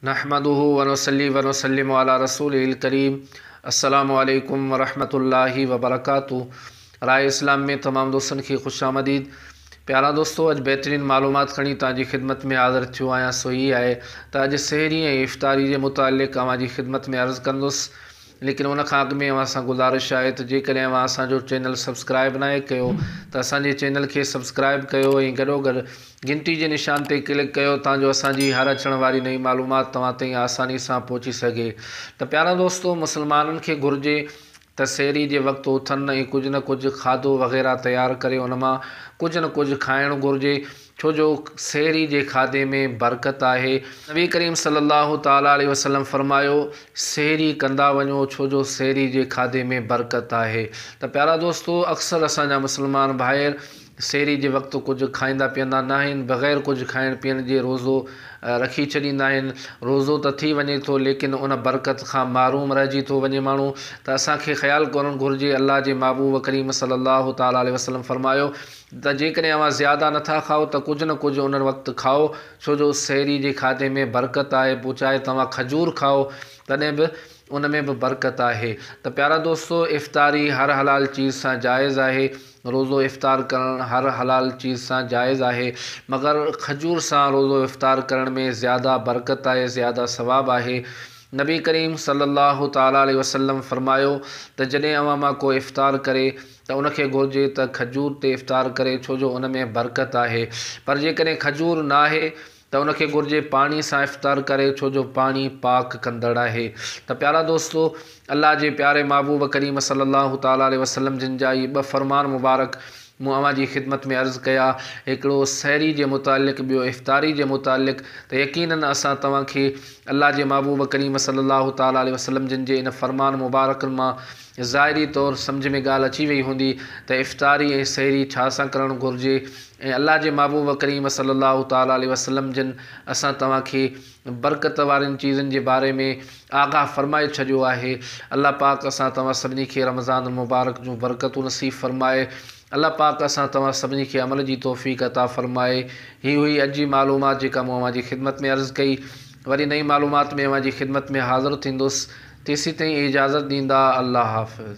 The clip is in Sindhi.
نحمده ونصلي ونسلم علي رسوله الڪريم السلام عليڪم ورحمة الله وبرڪاته راء اسلام ۾ تمام دوستن کي خوش آمديد پيارا دوستو اڄ بهترين معلومات کڻي توهان جي خدمت ۾ حاضر ٿيو آهيان سو هي آهي ته اڄ سحري ۽ افطاري جي متعلق اوهان جي خدمت ۾ عرض ڪندس ليڪن ان کان اڳ ۾ اوهان سان گذارش آهي ته جيڪڏهن اوهان اسان جو چينل سبسڪرائيب ناهي ڪيو ته اسان جي چينل کي سبسڪرائيب ڪيو ۽ گڏو گڏ گهنٽي جي نشان تي ڪلڪ ڪيو تان جو اسان جي هر اچڻ واري نئين معلومات توهان تائين آساني سان پهچي سگهي ته پيارا دوستو مسلمانن کي گهرجي ته سحري جي وقت اٿن ۽ ڪجهه نه ڪجهه کاڌو وغيره تيار ڪري ان مان ڪجهه نه ڪجهه کائڻ گهرجي ڇو جو سحري جي کاڌي ۾ برڪت آهي. نبي ڪريم صلي الله تعالٰي عليه وسلم فرمايو، سحري ڪندا وڃو ڇو جو سحري جي کاڌي ۾ برڪت آهي. ته پيارا دوستو اڪثر اسان جا مسلمان ڀائر سحري جي وقت ڪجهه کائيندا پيئندا ناهن بغير ڪجهه کائڻ پيئڻ جي روزو رکي ڇڏيندا آهن. روزو ته ٿي وڃي ٿو ليڪن ان برڪت کان محروم رهجي ٿو وڃي ماڻهو. ته اسان کي خيال ڪرڻ گهرجي الله جي محبوب ڪريم صلي الله تعالٰي عليه وسلم فرمايو. ته جيڪڏهن اوهان زياده نه ٿا کائو ته ڪجهه نه ڪجهه ان وقت کائو، ڇو جو سحري جي کاڌي ۾ برڪت آهي، پوء چاهي توهان کجور کائو تڏهن به ان ۾ به برڪت آهي. ته پيارا دوستو افطاري هر حلال چيز سان جائز آهي، روزو افطار ڪرڻ هر حلال چيز سان جائز آهي مگر کجور سان روزو افطار ڪرڻ ۾ زياده برڪت آهي، زياده ثواب آهي. نبي ڪريم صلي الله تعالٰي عليه وسلم فرمايو ته جڏهن اوهان مان ڪو افطار ڪري، ته ان کي گهرجي ته کجور تي افطار ڪري ڇو جو ان ۾ برڪت آهي پر جيڪڏهن کجور ناهي ته ان کي گهرجي پاڻي سان افطار ڪري ڇو جو پاڻي پاڪ ڪندڙ آهي ته پيارا دوستو الله جي پياري محبوب ڪريم صلي الله تعالٰي عليه وسلم جن جا هي ٻه فرمان مبارڪ مون اوهان جي خدمت ۾ عرض ڪيا هڪڙو سحري جي متعلق ٻيو افطاري جي متعلق ته يقيناً اسان توهان کي الله جي محبوب ڪريم صلي الله تعالٰي عليه وسلم جن جي ان فرمان مبارڪن مان ظاهري طور سمجهه ۾ ڳالهه اچي وئي هوندي ته افطاري ۽ سحري ڇا سان ڪرڻ گهرجي ۽ الله جي محبوب ڪريم صلي الله تعالٰي عليه وسلم جن اسان توهان کي برڪت وارين چيزن جي باري ۾ آگاهه فرمائي ڇڏيو آهي. الله پاڪ اسان توهان سڀني کي رمضان المبارڪ جون برڪتون نصيب فرمائي. الله پاڪ اسان توهان سڀني کي عمل جي توفيق عطا فرمائي. هي هئي اڄ جي معلومات جيڪا مون اوهان جي خدمت ۾ عرض ڪئي. وري نئين معلومات ۾ اوهان جي خدمت ۾ حاضر ٿيندس. تيسين تائين اجازت ڏيندا. الله حافظ.